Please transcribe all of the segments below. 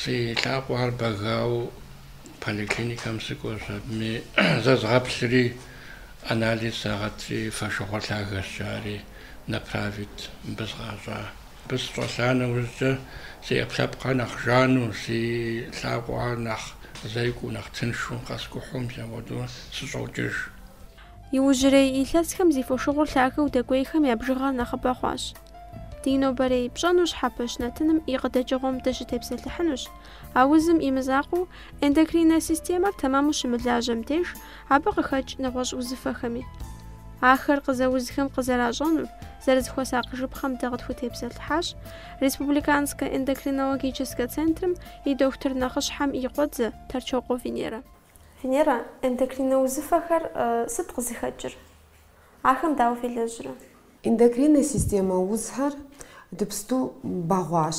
Си лъакъуэхэр бэгауэ поликлиникэм сыкӏуэщ, абыми зэзгъэплъри, анализ сагъэтри, фошыгъур лъагэщ жари направить мыбы сыкъащӏа. Мыбы сыщӏэлъа нэужькӏэ си ӏэпкълъэпкъхэр нэхъ жану, си лъакъуэхэр нэхъ зекӏуэу, нэхъ тыншу, къэскӏухьу мис апхуэдэу сыщӏокӏыж. Иужьрей илъэсхэм зи фошыгъур лъагэу дэкӏуейхэм я бжыгъэр нэхъыбэ хъуащ. Ди нобэрей пщӏэну щхьэпэщ нэтыным и къыдэкӏыгъуэм дыщытепсэлъыхьынущ. А узым и мызакъуэу, эндокриннэ системэр тэмэму щымылажьэм деж, абы къыхэкӏ нэгъуэщӏ узыфэхэми. Ахэр къызэузхэм къызэращӏэнур, зэрызыхуэсакъыжыпхъэм дэ къытхутепсэлъыхьащ Республиканскэ эндокринологическэ центрым и дохутыр нэхъыщхьэм и къуэдзэ Тэрчокъуэ Венерэ. Венера, эндокриннэ узыфэхэр сыт къызыхэкӏыр? Ахэм дауэ фелэжьрэ? Эндокриннэ системэ узхэр дыпсту бэгъуащ.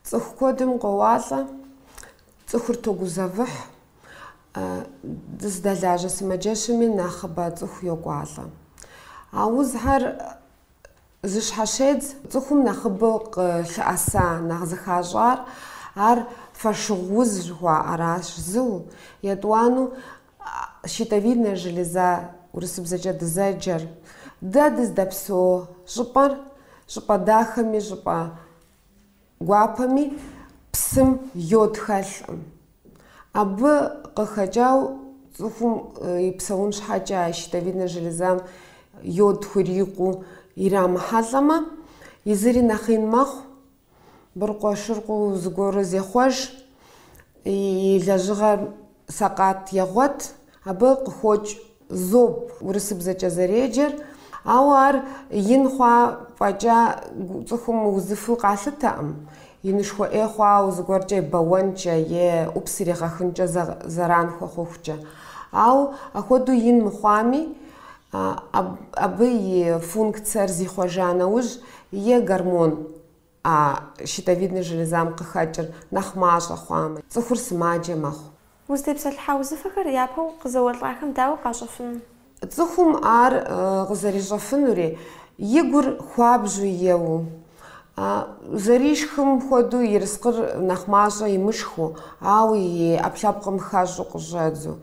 Цӏыху куэдым къоуалӏэ, цӏыхур тогузэвыхь, дызыдэлажьэ сымаджэщми нэхъыбэ цӏыху йокӏуалӏэ. А узхэр Зыщхьэщедз цӏыхум нэхъыбэу къылъыӏэса нэхъ зыхащӏар ар фошыгъу уз жыхуаӏэращ, зыу, етӏуанэу щитовидная железа урысыбзэкӏэ дызэджэр. Дэ дыздэпсо щӏыпӏэр щӏыпӏэ дахэми щӏыпӏэ. Гуапэми псым йод хэлъкъым. Абы къыхэкӏау цӏыхум и псэун щхьэкӏэ а щитовиднэ железам йод хурикъуу ирамыхьэлӏэмэ, езыри нэхъ ин мэхъу, быркъуэшыркъуу зыгуэру зехъуэж, и лэжьыгъэр сэкъат егъуэт, абы къыхокӏ Зоб, урысыбзэкӏэ зэреджэр, ауэ ар ин хъуа фӏэкӏа цӏыхум узыфу къалъытэкъым, инышхуэ ӏей хъуауэ зыгуэркӏэ е бэуэнкӏэ е ӏупс иригъэхынкӏэ зэран хуэхъухукӏэ. Ау ахуэдэу ин мыхъуами, абы и функцэр зихъуэжа нэужь, е гормон. А щитовиднэ железам къыхэкӏыр нэхъ мащӏэ хъуамэ, цӏыхур сымаджэ мэхъу. Узытепсэлъыхьа узыфэхэр япэу къызэуэлӏахэм дауэ къащӏэфынур? Цӏыхум ар къызэрищӏэфынури, и гур хуабжьу еуэу, зэришхым хуэдэу ерыскъыр нэхъ мащӏэ имышхыу, ауэ и ӏэпкълъэпкъым хэщӏу къыщӏэдзу,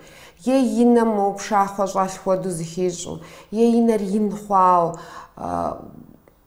е и нэм мо пшахъуэ щӏэлъ хуэдэу зыхищӏу, е и нэр ин хъуауэ,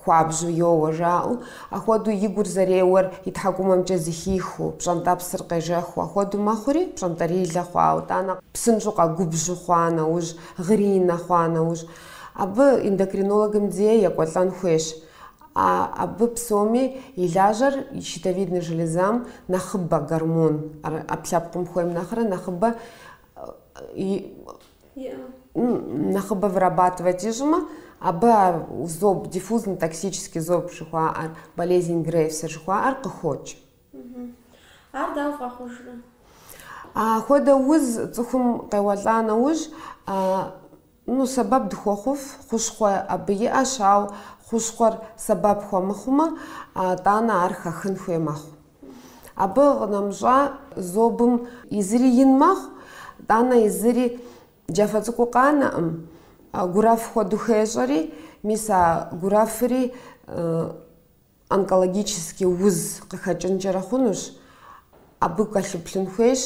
Хуабжьу йоуэ, жаӏэу, ахуэдэу и гур зэреуэр и тхьэкӏумэмкӏэ зыхихыу, пщӏэнтӏэпсыр къежэхыу ахуэдэу мэхъури, пщӏэнтӏэрилэ хъуауэ, итӏанэ, псынщӏэу къэгубжьу хъуа нэужь, гъыринэ хъуа нэужь, абы эндокринологым дей екӏуэлӏэн хуейщ. А абы псоми и лажьэр щитовидной железам нэхъыбэ гормон, ӏэпкълъэпкъым хуейм нэхърэ нэхъыбэ нэхъыбэ вырабатывать ищӏмэ, абы а зоб, диффузный токсический зоб жыхуаӏэр, болезнь Грейвса жыхуаӏэр къыхокӏ. Ар дауэ вгъэхъужрэ? Апхуэдэ уз цӏыхум къеуэлӏа нэужь, ну, сэбэп дыхуэхъуф, хущхъуэ абы иӏэщ, ауэ хущхъуэр сэбэп хуэмыхъумэ, тӏанэ ар хэхын хуей мэхъу. Абы къынэмыщӏа зобым езыри ин мэхъу, тӏанэ езыри джафэ цӏыкӏуу къанэӏым, гуэрэф хуэдэу хещӏэри, мис а гуэрэфри онкологический уз къыхэкӏынкӏэрэ хъунущ, абы кӏэлъыплъын хуейщ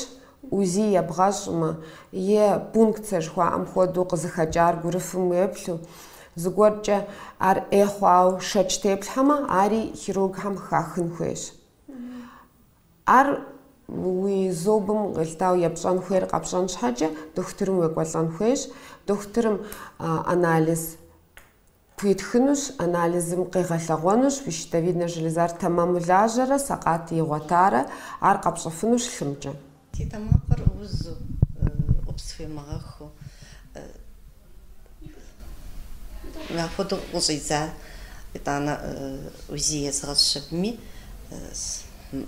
УЗИ ебгъэщӏмэ, е пункцэ жыхуаӏэм хуэдэу къызыхэкӏар гуэрэфым уеплъу, зыгуэркӏэ ар ӏей хъуауэ шэч теплъхьэмэ, ари хирургхэм хахын хуейщ. Ар уи зобым къелъытауэ епщӏэн хуейр къэпщӏэн щхьэкӏэ дохутырым уекӏуэлӏэн хуейщ, дохутырым анализ Пхуитхынущ, анализым къигъэлъэгъуэнущ уи щитовиднэ железар тэмэму лажьэрэ сэкъат игъуэтарэ, ар къэпщӏыфынущ лъымкӏэ. Си тэмакъыр узу, ӏупс схуемыгъэхыу, апхуэдэу къыщӏидза, итӏанэ УЗИ езгъэщӏщ аби,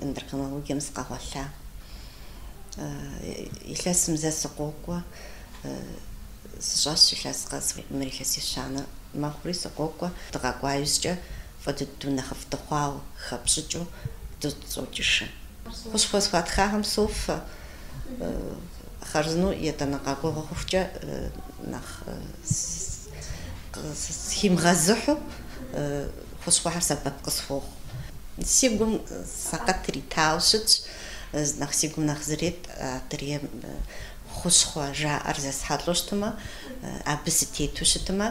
эндокринологием сыкъэгъуэлъа. Илъэсым зэ сыкъокӏуэ, Сыщӏащ илъэс къэс мыр илъэс ещанэ мэхъури, сыкъокӏуэ, дыкъэкӏуа иужькӏэ фӏы дыдэу нэхъыфӏ дыхъуауэ, хэпщӏыкӏыу дыщӏокӏыж. Хущхъуэ схуатхахэм софэ, хъарзынэу етӏанэ къэкӏуэгъуэ хъухукӏэ нэхъ схимыгъэзыхьу, хущхъуэхэр сэбэп къысхуохъу. Си гум сэкъат иритауэ щытщ, нэхъ си гум нэхъ зрет адрейм хущхъуэ жаӏэр зэсхьэлӏэу щытмэ, абы сытету щытмэ,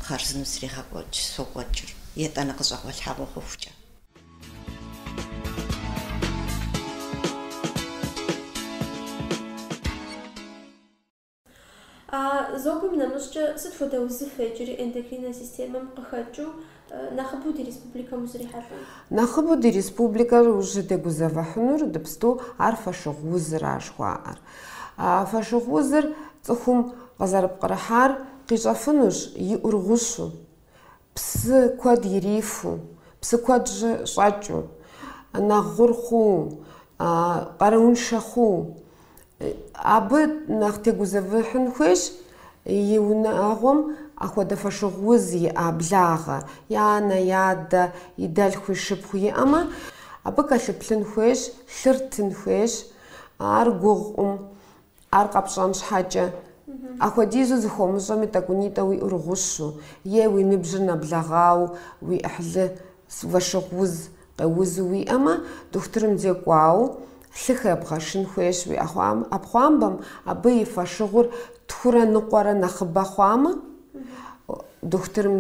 хъарзынэу срегъэкӏуэкӏ, сокӏуэкӏыр, етӏанэ къыщӏэгъуэлъхьэгъуэ хъухукӏэ. А зобым нэмыщӏкӏэ, сыт хуэдэ узыфэ иджыри эндокриннэ системэм къыхэкӏыу, Нэхъыбэу ди республикэм узрихьэлӏэн? Нэхъыбэу ди республикэр ущытегузэвыхьынур дыпсту ар фошыгъу узыра жыхуаӏэр. Фошыгъу узыр цӏыхум къызэрыпкърыхьар къищӏэфынущ и ӏур гъущу, псы куэд ирифу, псы куэд щӏэкӏыу, нэхъ гъур хъууэ, къарууншэ хъууэ, Абы нэхъ тегузэвыхьын хуейщ и унагъуэм ахуэдэ фошыгъу уз иӏа благъэ, и анэ, и адэ, и дэлъху, и шыпхъу иӏэмэ, абы кӏэлъыплъын хуейщ, лъыр тын хуейщ, ар гугъукъым, ар къэпщӏэн щхьэкӏэ. Ахуэдизу зыхыумыщӏэми, тӏэкӏунитӏэ уи ӏур гъущу, е уи ныбжьыр нэблэгъауэ, уи ӏыхьлы, фошыгъу уз Узу уиӏэмэ, дохутырым зекӏуауэ лъы хэбгъэшын хуейщ, уи ӏэпхъуамбэм абы и фошыгъур тхурэ ныкъуэрэ нэхъыбэ хъуамэ, дохутырым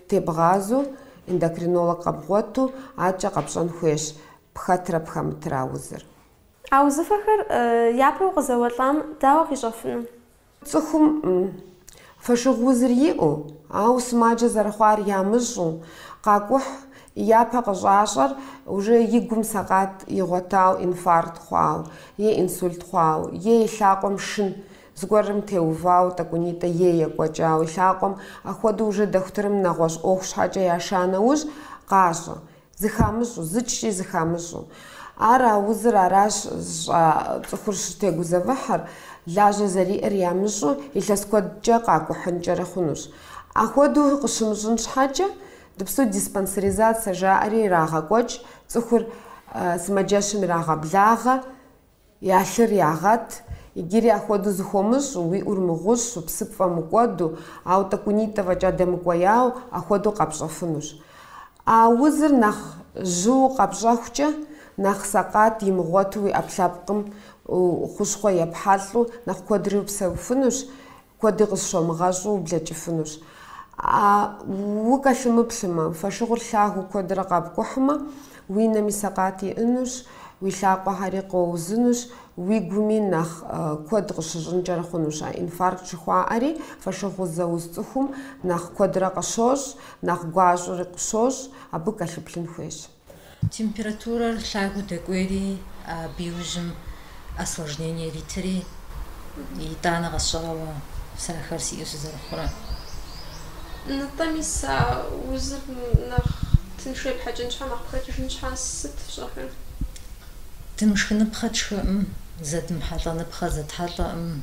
тебгъазэу, эндокринолог къэбгъуэту, аркӏэ къэпщӏэн хуейщ, пхэтрэ пхэмытрэ а узыр. А узыфэхэр япэу къызэуэлӏам дауэ къищӏэфыну? Цӏыхум фошыгъу узыр иӏэу, ауэ сымаджэ зэрыхъуар ямыщӏу, къакӏухь, и япэ къыщӏащӏэр уже и гум сэкъат игъуэтау инфаркт хъуау е инсульт хъуау е и лъакъуэм шын зыгуэрым теувау тӏэкӏунитӏэ е екӏуэкӏау и лъакъуэм, ахуэдэу уже дохутырым нэгъуэщӏ ӏуэху щхьэкӏэ яша нэужь, къащӏэ. Зыхамыщӏу, зыкӏи зыхамыщӏу. Ар а узыр аращ щӏа цӏыхур щытегузэвыхьыр, лажьэ зэриӏэр ямыщӏу, илъэс куэдкӏэ къакӏухьынкӏэрэ хъунущ. Ахуэдэу къыщымыщӏын щхьэкӏэ, дыпсту диспансеризация жаӏэри ирагъэкӏуэкӏ, цӏыхур сымаджэщым ирагъэблагъэ. Я лъыр ягъэт. Иджыри ахуэдэу зыхыумыщӏу, уи ӏур мыгъущу, псы пфӏэмыкӏуэду, ауэ тӏэкӏунитӏэ фӏэкӏа дэмыкӏуеяуэ, ахуэдэу къэпщӏэфынущ. А узыр нэхъ жьыу къэпщӏэхукӏэ, нэхъ сэкъат имыгъуэту уи ӏэпкълъэпкъым хущхъуэ епхьэлӏу, нэхъ куэдри упсэуфынущ, Куэди къызыщумыгъэщӏу ублэкӏыфынущ. А укӏэлъымыплъмэ, фошыгъур лъагэу куэдрэ къэпкӏухьмэ, уи нэми сэкъат иӏэнущ, уи лъакъуэхэри къоузынущ, уи гуми нэхъ куэд къыщыщӏынкӏэрэ хъунущ. А инфаркт жыхуаӏэри фошыгъу зэуз цӏыхум нэхъ куэдрэ къыщощӏ, нэхъ гуащӏэри къыщощӏ, абы кӏэлъыплъын хуейщ. Температурэр лъагэу дэкӏуейри, абы иужьым осложнение иритри, итӏанэ къэсщӏауэ сэ ахэр сиӏэу сызэрыхъурэ. Нтӏэми, сэ а узыр нэхъ тыншу епхьэкӏын щхьэ, нэхъ пхэтыжын щхьэ сыт фщӏэхэр? Дымышхыныпхъэ тшхыӏым, зэдмыхьэлӏэныпхъэ зэтхьэлӏэӏым.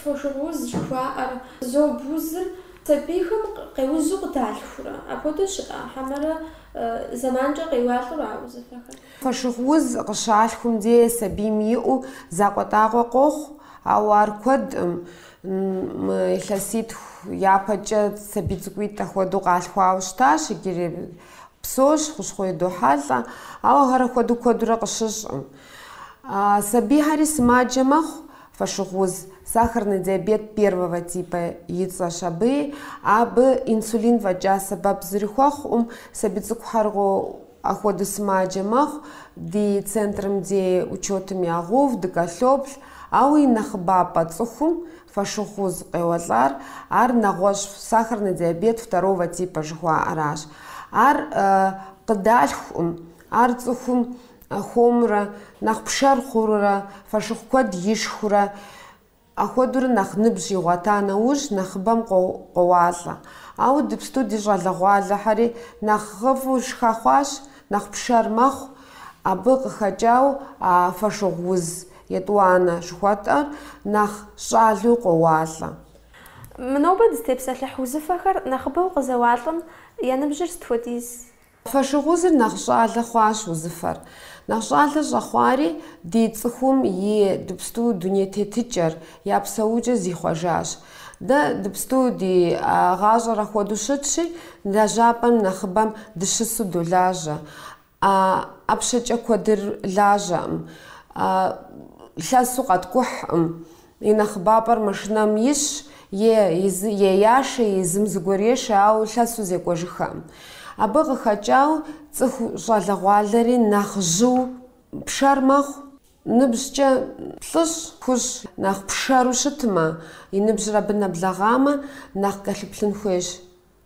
Фошыгъу уз жыхуаӏэр зоб узыр сабийхэм къеузу къыдалъхурэ? Апхуэдэу щыӏэ? Хьэмэрэ зэманкӏэ къеуалӏэу а узыфэхэр? Фошыгъу уз къыщалъхум дей сабийм иӏэу закъуэтӏакъуэ къохъу, ауэ ар куэдкъым. Мы илъэситху япэкӏэ сабий цӏыкӏуитӏ апхуэдэу къалъхуауэ щытащ иджырей Псэущ, хущхъуэ идохьэлӏэ, ауэ ахэр ахуэдэу куэдурэ къыщыщӏкъым. Сабийхьэри сымаджэ мэхъу, фошыгъу уз, сахарный диабет первого типа и цӏэщ абыи, абы инсулин фӏэкӏа сэбэп зыри хуэхъукъым, сабий цӏыкӏухэр ахуэдэу сымаджэ мэхъу, ди центрым дей учетым ягъэув, дыкӏэлъоплъ, ауэ и нэхъыбапӏэ цӏыхум Фошыгъу уз къеуэлӏар, ар нэгъуэщӏ сахарный диабет второго типа жыхуаӏэращ. Ар къыдалъхукъым, ар цӏыхум хуэмурэ, нэхъ пшэр хъурурэ, фошыгъу куэд ишхурэ, ахуэдурэ нэхъ ныбжь игъуэта нэужь нэхъыбэм къоуалӏэ. Ауэ дыпсту ди щӏалэгъуалэхьэри нэхъыфӏу шхэ хъуащ, нэхъ пшэр мэхъу, абы къыхэкӏауэ а фошыгъу уз Етӏуанэ жыхуэтӏэр нэхъ щӏалэу къоуалӏэ. Мы нобэ дызытепсэлъыхь узыфэхэр нэхъыбэу къызэуалӏэм я ныбжьыр сыт хуэдиз? Фошыгъу узыр нэхъ щӏалэ хъуащ узыфэр. Нэхъ щӏалэ щӏэхъуари ди цӏыхум и дыпсту дуней тетыкӏэр, я псэукӏэр зихъуэжащ. Дэ дыпсту ди гъащӏэр ахуэдэу щытщи, лэжьапӏэм нэхъыбэм дыщысу долажьэ. А ӏэпщэкӏэ куэдыр лажьэкъым, лъэсу къэткӏухькъым. И нэхъыбапӏэр машинэм исщ, е езы, е яшэ, е езым зыгуэр ешэ, ауэ лъэсу зекӏуэжыххэкъым. Абы къыхэкӏау цӏыху щӏалэгъуалэри нэхъ жьыу пшэр мэхъу. Ныбжькӏэ плӏыщӏ, тхущӏ нэхъ пшэру щытмэ, и ныбжьыр абы нэблэгъамэ, нэхъ кӏэлъыплъын хуейщ.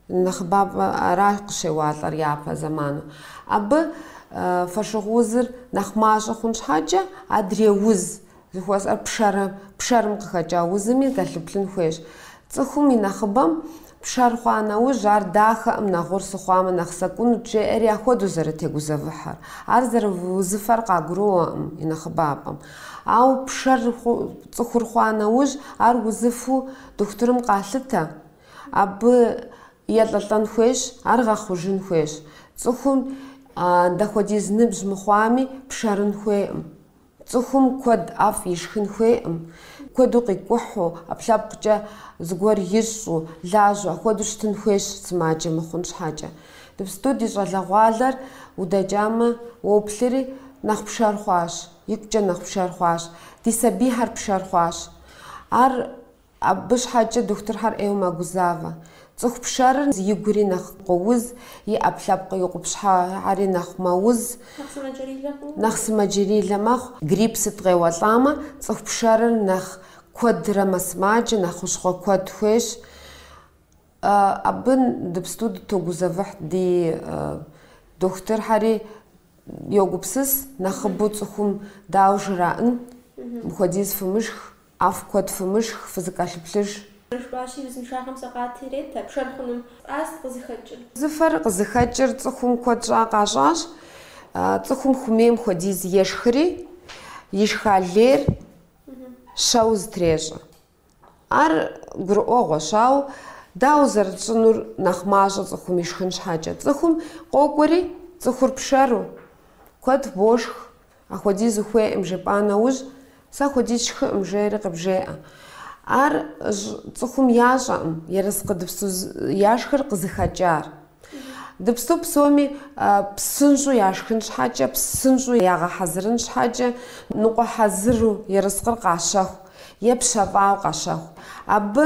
Нэхъыбапӏэ ара къыщеуалӏэр япэ зэману. Абы фошыгъу узыр нэхъ мащӏэ хъун щхьэкӏэ, адрей уз жыхуэсӏэр пшэр, пшэрым къыхэкӏа узыми кӏэлъыплъын хуейщ. Цӏыхум и нэхъыбэм пшэр хъуа нэужь, ар дахэкъым, нэхъ гъур сыхъуамэ нэхъ сэкӏунут жеӏэри ахуэдэу зэрытегузэвыхьыр. Ар зэрыузыфэр къагуроӏуэкъым и нэхъыбапӏэм. Ауэ пшэр цӏыхур хъуа нэужь, ар узыфу дохутырым къалъытэ. Абы елӏэлӏэн хуейщ, ар гъэхъужын хуейщ. Цӏыхум дапхуэдиз ныбжь мыхъуами, пшэрын хуейкъым. Цӏыхум куэд ӏэфӏ ишхын хуейкъым. Куэду къикӏухьу, ӏэпкълъэпкъкӏэ зыгуэр ищӏу, лажьэу, апхуэдэу щытын хуейщ, сымаджэ мыхъун щхьэкӏэ. Дыпсту ди щӏалэгъуалэр удэкӏамэ, уоплъри, нэхъ пшэр хъуащ, икъукӏэ нэхъ пшэр хъуащ. Ди сабийхэр пшэр хъуащ. Ар Абы щхьэкӏэ дохутырхэр ӏейуэ мэгузавэ. Цӏыху пшэрыр и гури нэхъ къоуз, и ӏэпкълъэпкъ и къупщхьэхьэри нэхъ мэуз, нэхъ сымаджэрилэ мэхъу. Грипп сыт къеуэлӏамэ, цӏыху пшэрыр нэхъ куэдрэ мэсымаджэ, нэхъ хущхъуэ куэд хуейщ. Абы дыпсту дытогузэвыхь ди дохутырхьэри йогупсыс, нэхъыбэу цӏыхум дауэ жраӏэн, мыхуэдиз фымышх. ӏэфӏ куэд фымышх, фызыкӏэлъыплъыж. Жыхуаӏэщи, узыншагъэм сэкъат ирет пшэр хъуным. Сыт къызыхэкӏыр. Зыфэр къызыхэкӏыр цӏыхум куэд щӏа къащӏащ. Цӏыхум хумейм хуэдиз ешхри, ишха лейр щэу зытрещӏэ. Ар гурыӏуэгъуэщ, ауэ дауэ зэрытщӏынур нэхъ мащӏэ цӏыхум ишхын щхьэкӏэ? Цӏыхум къокӏуэри, цӏыхур пшэру, куэд бошх, Ахуэдиз ухуейкъым жепӏа нэужь, сэ ахуэдиз сшхыкъым, жери къыбжеӏэ. Ар щӏ цӏыхум ящӏэкъым ерыскъы дыпсу яшхыр къызыхэкӏар. Дыпсу псоми псынщӏэу яшхын щхьэкӏэ, псынщӏэу ягъэхьэзырын щхьэкӏэ, ныкъуэ хьэзыру ерыскъыр къащэху е пщэфӏауэ къащэху. Абы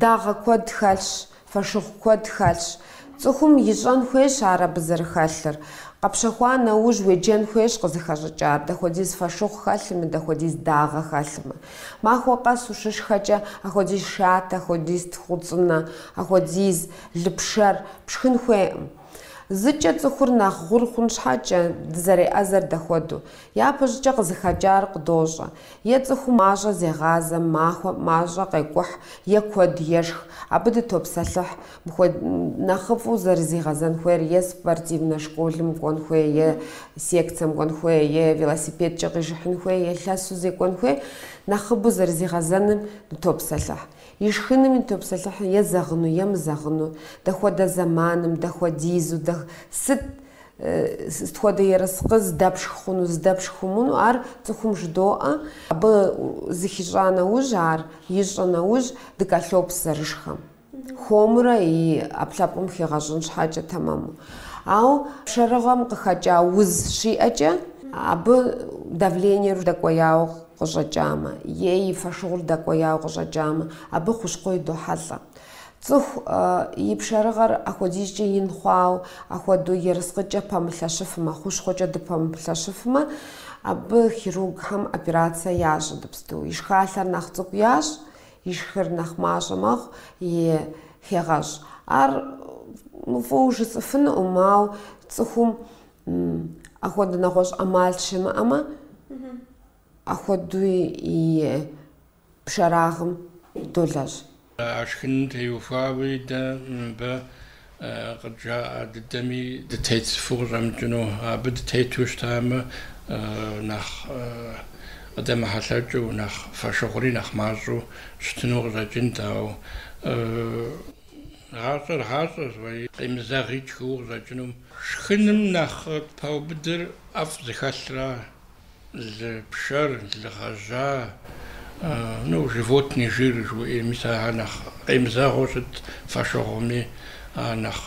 дагъэ куэд хэлъщ, Фошыгъу куэд хэлъщ. Цӏыхум ищӏэн хуейщ ар абы зэрыхэлъыр. Къэпщэхуа нэужь уеджэн хуейщ къызыхэщӏыкӏар, дэхуэдиз фошыгъу хэлъми, дэхуэдиз дагъэ хэлъми. Махуэ къэс ущышхэкӏэ, ахуэдиз шатэ, ахуэдиз тхъуцӏынэ, ахуэдиз лыпшэр пшхын хуейкъым. Зыкӏэ цӏыхур нэхъ гъур хъун щхьэкӏэ, дызэреӏэзэр дэхуэдэу. Япэщӏыкӏэ къызыхэкӏар къыдощӏэ. Е цӏыхум мащӏэ зегъазэ, махуэм мащӏэ къекӏухь, е куэд ешх. Абы дытопсэлъыхь. Мыхуэд... нэхъыфӏу зэрызигъэзэн хуейр е спортивнэ школым кӏуэн хуей, е секцэм кӏуэн хуей, е велосипедкӏэ къижыхьын хуей, е лъэсу зекӏуэн хуей, нэхъыбу зэрызигъэзэным дытопсэлъыхь. Ишхыным дытопсэлъыхь е зэгъыну, е мызэгъыну, дэхуэдэ зэманым, дэхуэдизу, дэ... сыт Сыт хуэдэ ерыскъы здэпшх хъуну, здэпшх хъумуну, ар цӏыхум жыдоӏэ. Абы зыхищӏа нэужь, ар ищӏэ нэужь, дыкӏэлъоплъ зэрышхэм. Хуэмурэ и ӏэпкълъэпкъым хигъэщӏын щхьэкӏэ тэмэму. Ауэ пшэрыгъэм къыхэкӏа уз щиӏэкӏэ, абы давлениер дэкӏуеяуэ къыщӏэкӏамэ, е и фошыгъур дэкӏуеяуэ къыщӏэкӏамэ, абы хущхъуэ идохьэлӏэ. Цӏыху и пшэрыгъэр апхуэдизкӏэ ин хъуауэ, апхуэдэу ерыскъыкӏэ пэмылъэщыфмэ, хущхъуэкӏэ дыпэмылъэщыфмэ, абы хирургхэм операцэ ящӏ иджыпсту. И шхалъэр нэхъ цӏыкӏу ящӏ, и шхыр нэхъ мащӏэ мэхъу и хегъэщӏ. Ар фӏыуэ жысӏыфынукъым, ауэ цӏыхум апхуэдэ нэгъуэщӏ ӏэмал щымыӏэмэ, апхуэдэуи и пшэрагъым долэжь. А шхыным теухуауи дэ мыбы къыджаӏэ дыдэми дытетыфу къыщӏэмыкӏыну. Абы дытету щытамэ, нэхъ къыдэмыхьэлъэкӏыу, нэхъ фэшыгъури нэхъ мащӏэу щытыну къыщӏэкӏынт. Ауэ гъащӏэр гъащӏэщ, уэи, къемызэгъи тшхыуэ къыщӏэкӏыну. Шхыным нэхъ паубыдыр ӏэфӏ зыхэлъра? Лы пшэр, лы гъэжьа, ну, животный жир жыхуиӏэ, мис ар нэхъ къемызэгъыу щыт фэшыгъуми, ар нэхъ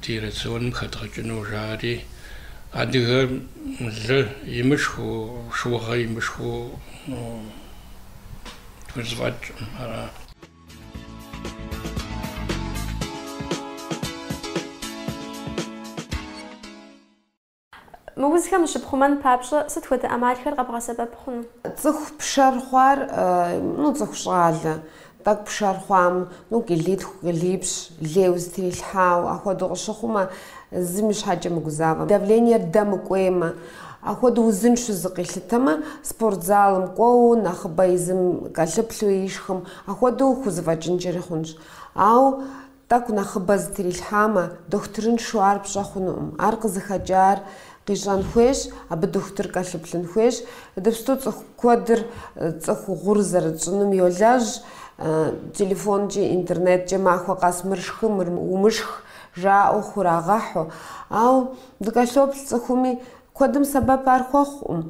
ди рационым хэдгъэкӏыну жари. Адыгэм лы имышхыу, шыугъэ имышхыу хузэфӏэкӏкъым, ара. Мы узхэм ущыпхъумэн папщӏэ сыт хуэдэ ӏэмалхэр къэбгъэсэбэп хъуну? Цӏыху пшэр хъуар, ну, цӏыху щӏалэ, тӏэкӏу пшэр хъуам, ну, килитху, килипщӏ, лейуэ зытрилъхьауэ, ахуэдэу къыщыхъумэ, езым и щхьэкӏэ мыгузавэмэ, давлениер дэмыкӏуеймэ, ахуэдэу узыншэу зыкъилъытэмэ, спортзалым кӏуэуэ, нэхъыбэ езым кӏэлъыплъу ишхым, ахуэдэу хузэфӏэкӏынкӏэри хъунщ. Ауэ. Тӏэкӏу нэхъыбэ зытрилъхьамэ, дохутырыншэу ар пщӏэ хъунукъым. Ар къызыхэкӏар къищӏэн хуейщ, абы дохутыр кӏэлъыплъын хуейщ. Иджыпсту цӏыху куэдыр цӏыху гъур зэрытщӏынум йолэжь, телефонкӏи интернеткӏэ махуэ къэс мыр шхы, мыр умышх жаӏэу хурагъэхьу. Ауэ дыкӏэлъоплъ цӏыхуми, куэдым сэбэп ар хуэхъукъым.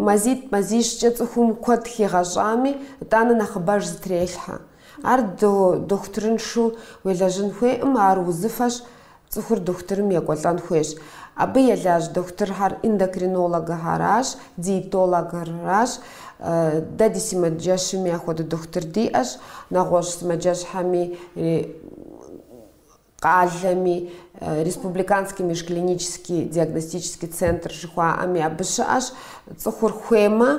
Мазитӏ-мазищкӏэ цӏыхум куэд хигъэщӏами, итӏанэ нэхъыбэж зытрелъхьэ. Ар дохутырыншу уелэжьын хуейкъым, ар узыфэщ, цӏыхур дохутырым екӏуэлӏэн хуейщ. Абы елэжь дохутырхэр эндокринологхэращ, диетологхэращ. Дэ ди сымаджэщми апхуэдэ дохутыр диӏэщ, нэгъуэщӏ сымаджэщхэми. къалэми, Республиканский межклинический диагностический центр жыхуаӏэми абы щыӏэщ, цӏыхур хуеймэ,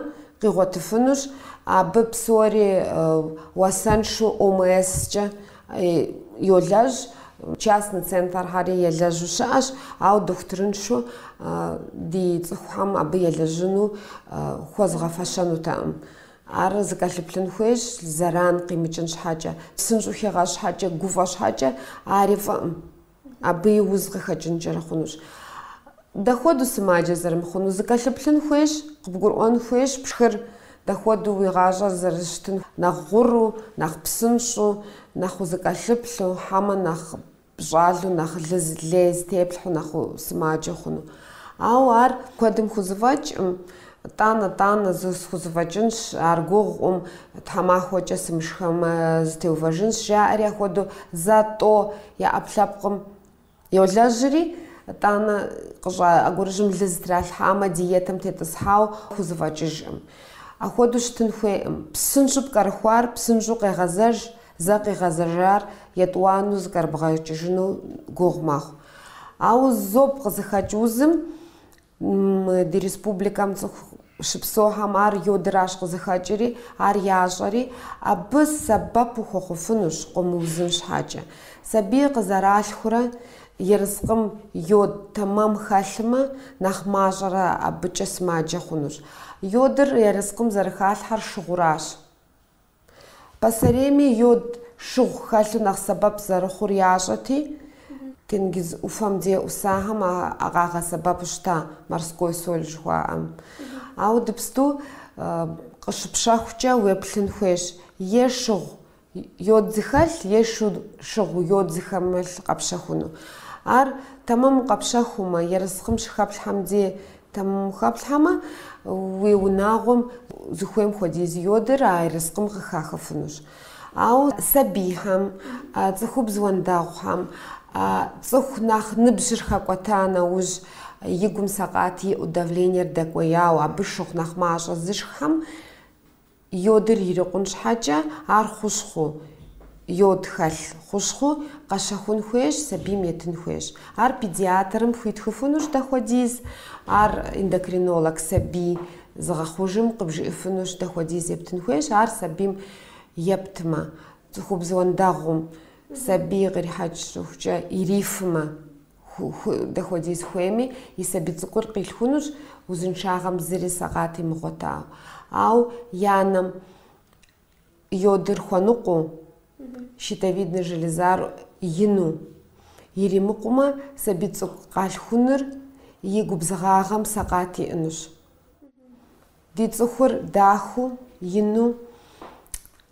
къигъуэтыфынущ, абы псори уасэншу ОМС-кӏэ йолэжь, частный центрхэри елэжьу щыӏэщ, ауэ дохутырыншу ди цӏыхухэм абы елэжьыну хуэзгъэфэщэнутэкъым. Ар зыкӏэлъыплъын хуейщ, зэран къимыкӏын щхьэкӏэ. Псынщӏэу хигъэщӏ щхьэкӏэ, гуфӏэ щхьэкӏэ, ари фӏыӏым. Абы и уз къыхэкӏынкӏэри хъунущ. Дапхуэдэу сымаджэ зэрымыхъунур? Зыкӏэлъыплъын хуейщ, къыбгурыӏуэн хуейщ пшхыр дапхуэдэу уи гъащӏэр зэрыщытын, нэхъ гъуру, нэхъ псынщӏэу, нэхъ узыкӏэлъыплъу, хьэмэ нэхъ пщӏалу нэхъ лыз, лей зытеплъхьу нэхъ сымаджэ хъуну. Ауэ ар куэдым хузэфӏэкӏкъым, тӏанэ-тӏанэ схузэфӏэкӏынщ, ар гугъукъым, тхьэмахуэкӏэ сымышхэмэ, зэтеувэжынщ, жаӏэри апхуэдэу зэ-тӏо я ӏэпкълъэпкъым йолэжьри, тӏанэ къыщӏа ӏэгурыжьым лы зытралъхьамэ, диетэм тетӏысхьауэ хузэфӏэкӏыжкъым. Апхуэдэу щытын хуейкъым. Псынщӏэу пкӏэрыхуар псынщӏэу къегъэзэж, Зэ къигъэзэжар етӏуанэу зыкӏэрыбгъэкӏыжыну гугъу мэхъу. Ауэ зоб къызыхэкӏ узым ди республикэм цӏыху щыпсэухэм ар йодыращ къызыхэкӏри, ар ящӏэри, абы сэбэп ухуэхъуфынущ къомыузын щхьэкӏэ. Сабий къызэралъхурэ ерыскъым йод тэмэм хэлъымэ, нэхъ мащӏэрэ абыкӏэ сымаджэ хъунущ. Йодыр ерыскъым зэрыхалъхьэр шыгъуращ. Пасэрейми йод шыгъу хэлъу нэхъ сэбэп зэрыхъур ящӏэти, тенгиз ӏуфэм дей ӏусахэм а къагъэсэбэпу щыта морской соль жыхуаӏэм. Ауэ дыпсту къыщыпщэхукӏэ уеплъын хуейщ е шыгъу йод зыхэлъ, е шу шыгъу йод зыхэмылъ къэпщэхуну. Ар тэмэму къэпщэхумэ, ерыскъым щыхэплъхьэм дей Тэмэму хэплъхьэмэ, уи унагъуэм зыхуейм хуэдиз йодыр а ерыскъым къыхахыфынущ. Ауэ сабийхэм, цӏыхубз уэндэгъухэм, цӏыху нэхъ ныбжьыр хэкӏуэта нэужь, и гум сэкъат иӏэу давлениер дэкӏуеяуэ, абы шыгъу нэхъ мащӏэ зышххэм, Йодыр ирикъун щхьэкӏэ, ар хущхъу, йод хэлъ хущхъур къэщэхун хуейщ, сабийм етын хуейщ. Ар педиатрым хуитхыфынущ дапхуэдиз, ар эндокринолог сабий зыгъэхъужым къыбжиӏэфынущ дапхуэдиз ептын хуейщ, ар сабийм ептмэ, цӏыхубз уэндэгъум сабий кърихьэкӏ щӏыхукӏэ ирифмэ. Дапхуэдиз хуейми, и сабий цӏыкӏур къилъхунущ узыншагъэм зыри сэкъат имыгъуэтауэ. Ауэ и анэм йодыр хуэныкъуэу, щитовиднэ железар ину иримыкъумэ, сабий цӏыкӏу къалъхунур и губзыгъагъэм сэкъат иӏэнущ. Ди цӏыхур дахэу, ину,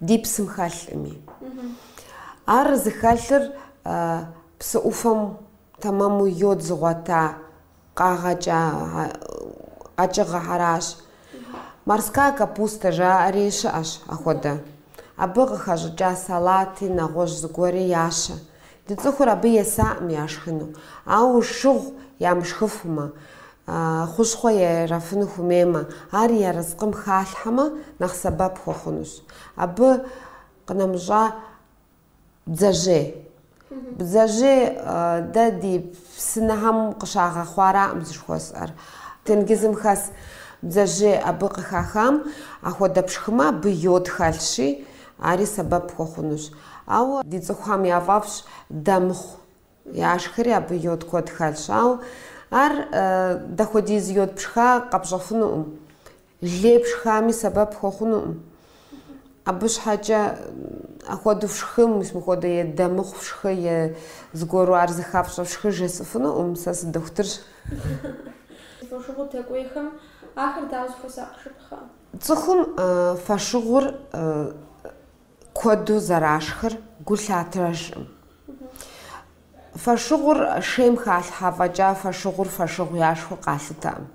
ди псым хэлъми. Ар зыхэлъыр псы ӏуфэм тэмэму йод зыгъуэта къагъэкӏа къэкӏыгъэхэращ. Морская капуста жаӏэри щыӏэщ апхуэдэ. Абы къыхэщӏыкӏа салати, нэгъуэщӏ зыгуэри ящэ. Ди цӏыхур абы есаӏым яшхыну, ауэ шыгъу ямышхыфумэ, хущхъуэ ерафыну хуэмеймэ, ар я ерыскъым халъхьэмэ, нэхъ сэбэп хуэхъунущ. Абы къынэмыщӏа бдзэжьей. Бдзэжьей дэ ди псынэхэм къыщагъэхъуараӏым жыхуэсӏэр. Тенгизым хэс бдзэжьей абы къыхахам ахуэдэ пшхымэ, абы йод хэлъщи, Ари сэбэп пхуэхъунущ. Ауэ ди цӏыхухэм яфӏэфӏщ дэ мыхъу. Яшхэри абы йод куэд хэлъщ. Ауэ ар дапхуэдиз йод пшха къэпщӏэфынукъым. Лей пшхами сэбэп пхуэхъунукъым. Абы щхьэкӏэ ахуэду фшхым, мыпхуэдэ е дэ мыхъу фшхы, е зыгуэру ар зыхафщӏэ фшхы жесӏыфынукъым. Сэ сыдохутырщ. Фошыгъу дэкӏуейхэм ахэр дауэ зыхуэсакъыжыпхъэ? Цӏыхум фошыгъур куэду зэрашхыр гу лъатэжкъым. Фошыгъур шейм халъхьэ фӏэкӏа фошыгъур фошыгъу яшхыу къалъытэкъым.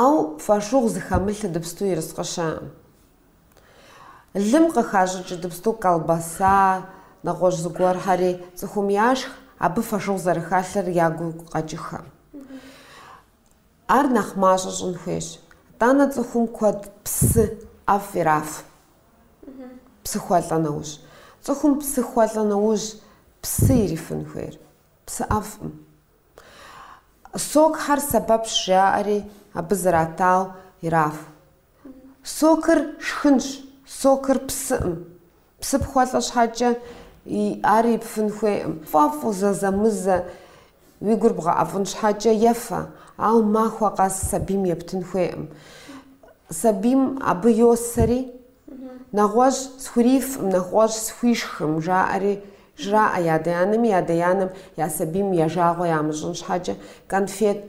Ауэ фошыгъу зыхэмылъ ыдыпсту ерыскъы щыӏэкъым. Лым къыхащӏыкӏ ыдыпсту колбаса, нэгъуэщӏ зыгуэрхьэри цӏыхум яшх, абы фошыгъу зэрыхэлъыр ягу къэкӏыххэкъым. Ар нэхъ мащӏэ щӏын хуейщ. Итӏанэ цӏыхум куэд псы ӏэфӏ ираф. Псы хуэлӏэ нэужь. Цӏыхум псы хуэлӏэ нэужь псы ирифын хуейр. Псы ӏэфӏым. Сокхэр сэбэпщ жаӏэри, абы зратау ираф. Сокыр шхынщ, сокыр псыӏым. Псы пхуэлӏэ щхьэкӏэ ар ипфын хуейкъым. Пфӏэфӏу зэзэмызэ уи гур бгъэӏэфӏын щхьэкӏэ ефэ, ауэ махуэ къэс сабийм ептын хуейкъым. Сабийм абы йосэри, нэгъуэщӏ схурифкъым, нэгъуэщӏ схуишхкъым, жаӏэри жраӏэ и адэ-анэми, и адэ-анэм я сабийм я жагъуэ ямыщӏын щхьэкӏэ конфет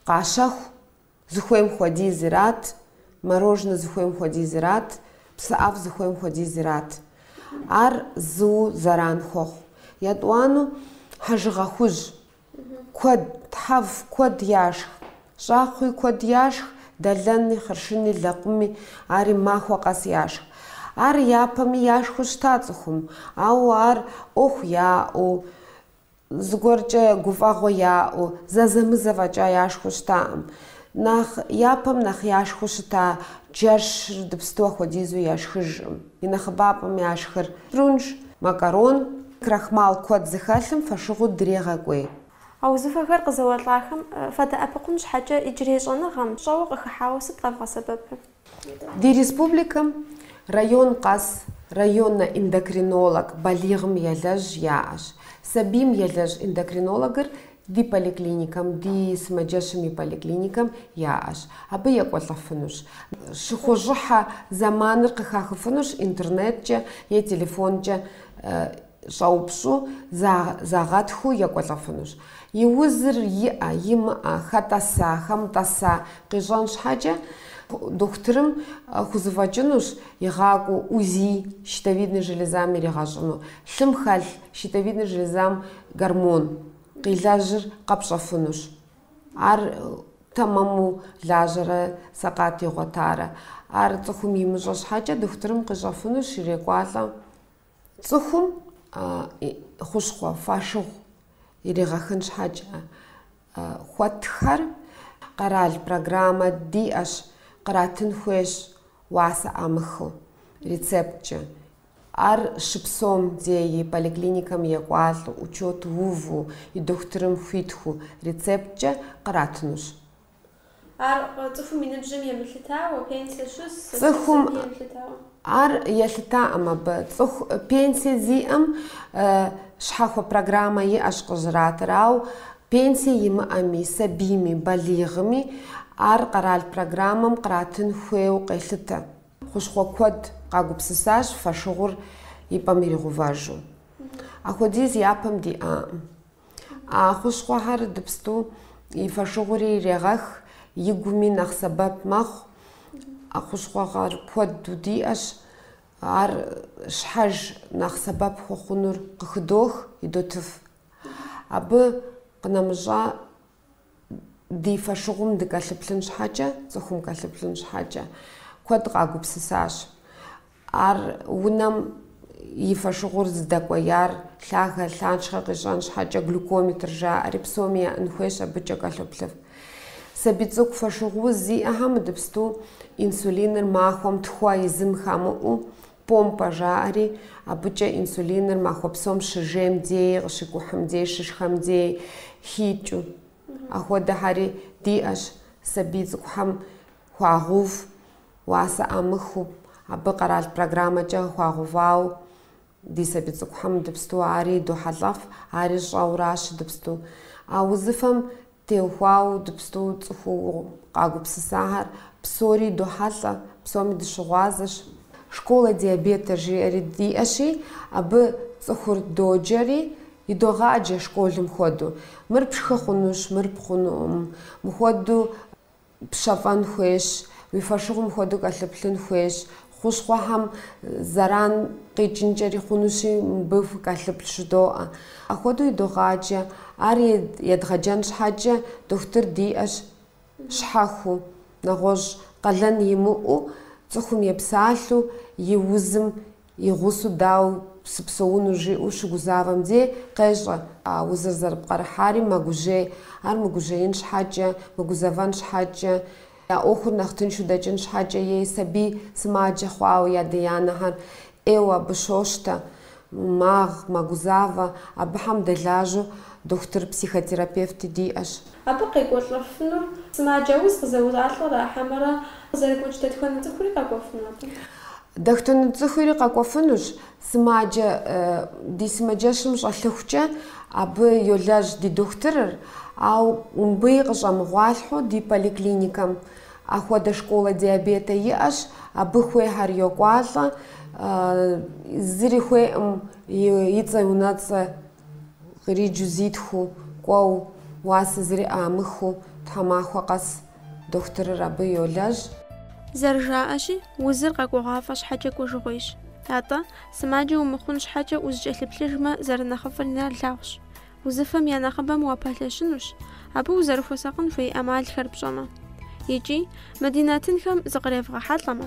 къащэху. Зыхуейм хуэдиз ират, мороженэ зыхуейм хуэдиз ират, псы ӏэфӏ зыхуейм хуэдиз ират. Ар зыу зэран хуэхъу. Етӏуанэу хьэжыгъэ хужь. Куэд, тхьэв куэд яшх. Щӏакхъуи куэд яшх, дэлэни, хъыршыни, лэкъуми, ари махуэ къэс яшх. Ар япэми яшхыу щыта цӏыхум, ауэ ар ӏуэху яӏэу, Зыгуэркӏэ гуфӏэгъуэ яӏэу, зэзэмызэ фӏэкӏа яшхуэу щытакъым. Нэхъ япэм нэхъ яшхуэу щыта джэшыр иджыпсту ахуэдизу яшхыжкъым. И нэхъыбапӏэм яшхыр прунж, макарон, крахмал куэд зыхэлъым фошыгъур дрегъэкӏуей. А узыфэхэр къызэуэлӏахэм фадэӏэпыкъун щхьэкӏэ иджырей щӏэныгъэм щӏэуэ къыхыхьауэ сыт къэвгъэсэбэпыр? Ди республикэм район къэс районнэ эндокринолог балигъым елэжь яӏэщ. Сабийм елэжь эндокринологыр ди поликлиникэм, ди сымаджэщым и поликлиникэм яӏэщ. Абы екӏуэлӏэфынущ. Щыхущӏыхьэ зэманыр къыхахыфынущ интернеткӏэ е телефонкӏэ щӏэупщӏу, загъэтхыу екӏуэлӏэфынущ. И узыр иӏэ, имыӏэ, хэтӏэса, хэмытӏэса къищӏэн щхьэкӏэ, дохутырым хузэфӏэкӏынущ игъакӏуэу УЗИ щитовидной железам иригъэщӏыну, лъым хэлъ щитовидной железам гормон къилэжьыр къэпщӏэфынущ. Ар тэмэму лажьэрэ сэкъат игъуэтарэ, ар цӏыхум имыщӏэ щхьэкӏэ, дохутырым къищӏэфынущ ирекӏуалӏэ Цӏыхум и хущхъуэ фошыгъу иригъэхын щхьэкӏэ хуэтхэр къэрал программэ диӏэщ, къратын хуейщ уасэ ӏамыхыу, рецепткӏэ. Ар щыпсэум дей поликлиникэм екӏуалӏэу, учет уву, и дохутырым хуитхыу рецепткӏэ къратынущ. Ар цӏыхум и ныбжьым емылъытауэ, пенсие щыс, Цӏыхум- сабий емылъытауэ. Ар елъытакъым абы. Цӏыху пенсие зиӏэм э, щхьэхуэ программэ иӏэщ къыщратыр, ауэ пенсие имыӏэми, сабийми, балигъми ар къэрал программэм къратын хуейуэ къелъытэ. Хущхъуэ куэд къагупсысащ фошыгъур и пӏэм иригъувэжу. Ахуэдиз япэм диӏакъым. А хущхъуэхэр иджыпсту и фошыгъури ирегъэх, и гуми нэхъ сэбэп мэхъу. А хущхъуэхэр куэду диӏэщ. Ар щхьэж нэхъ сэбэп хуэхъунур къыхыдох, идотыф. Абы къынэмыщӏа ди фошыгъум дыкӏэлъыплъын щхьэкӏэ, цӏыхум кӏэлъыплъын щхьэкӏэ, куэд къагупсысащ. Ар унэм и фошыгъур зыдэкӏуеяр лъагэ, лъахъшэ къищӏэн щхьэкӏэ глюкометр жаӏэри псоми яӏэн хуейщ, абыкӏэ кӏэлъоплъыф. Сабий цӏыкӏу фошыгъу уз зиӏэхэм иджыпсту инсулиныр махуэм тхуэ езым хамыӏэу Помпэ жаӏэри, абыкӏэ инсулиныр махуэ псом щыжейм дей, къыщикӏухьым дей, щышхэм дей хикӏыу. Ахуэдэхьэри диӏэщ сабий цӏыкӏухэм хуагъув, уасэ ӏамыхыу, абы къэрал программэкӏэ хуагъувауэ ди сабий цӏыкӏухэм дыпсту ари дохьэлӏэф, ари щӏэуращ дыпсту. А узыфэм Теухуауэ дыпсту цӏыхуу къагупсысахэр псори дохьэлӏэ, псоми дыщыгъуазэщ. Школэ диабета жиӏэри диӏэщи, абы цӏыхур доджэри, идогъаджэ школым хуэдэу. Мыр пшхы хъунущ, мыр пшхы хъунукъым. Мыхуэдэу. пщэфӏэн хуейщ, уи фошыгъум мыхуэдэу укӏэлъыплъын хуейщ, хущхъуэхэм зэран къикӏынкӏэри хъунущи, мыбы фыкӏэлъыплъ жыдоӏэ. Ахуэдэу идогъаджэ. Ар едгъэджэн щхьэкӏэ дохутыр диӏэщ щхьэхуэу, нэгъуэщӏ къалэн имыӏэу, цӏыхум епсалъэу и узым И гъусэу дау сыпсэуну жиӏэу щыгузавэм де, къещӏэ, а узыр зэрыпкърыхьари мэгужьей. Ар мыгужьеин щхьэкӏэ, мыгузэвэн щхьэкӏэ, я ӏуэхур нэхъ тыншу дэкӏын щхьэкӏэ ей сабий сымаджэ хъуауэ ядэ-янэхэр ӏейуэ абы щощтэ, магъ, мэгузавэ, абыхэм дэлажьэу дохутыр-психотерапевти диӏэщ. Абы къекӏуэлӏэфынур сымаджэ уз къызэуэлӏар ара хьэмэрэ къызэрыгуэкӏ дэтхэнэ цӏыхури къэкӏуэфыну абы? Дэтхэнэ цӏыхури къэкӏуэфынущ, сымаджэ, ди сымаджэщым щӏэлъыхукӏэ абы йолэжь ди дохутырыр, ауэ мыбыи къыщӏэмыгъуалъхьэу ди поликлиникэм ахуэдэ школэ диабета иӏэщ, абы хуейхэр йокӏуалӏэ, зыри хуейкъым и цӏэ-унэцӏэ Къриджу зитхыу, кӏуэу, уасэ зыри ӏамыхыу тхьэмахуэ къэс дохутырыр абы йолэжь. Зэрыжаӏэщи, узыр къэкӏуэгъуафӏэ щхьэкӏэ кӏуэжыгъуейщ. Атӏэ, сымаджэ умыхъун щхьэкӏэ узыкӏэлъыплъыжмэ, зэрынэхъыфӏыр нэрылъагъущ. Узыфэм я нэхъыбэм уапэлъэщынущ, абы узэрыхуэсакъын хуей ӏэмалхэр пщӏэмэ. Икӏи, мы ди нэтынхэм зыкъревгъэхьэлӏэмэ.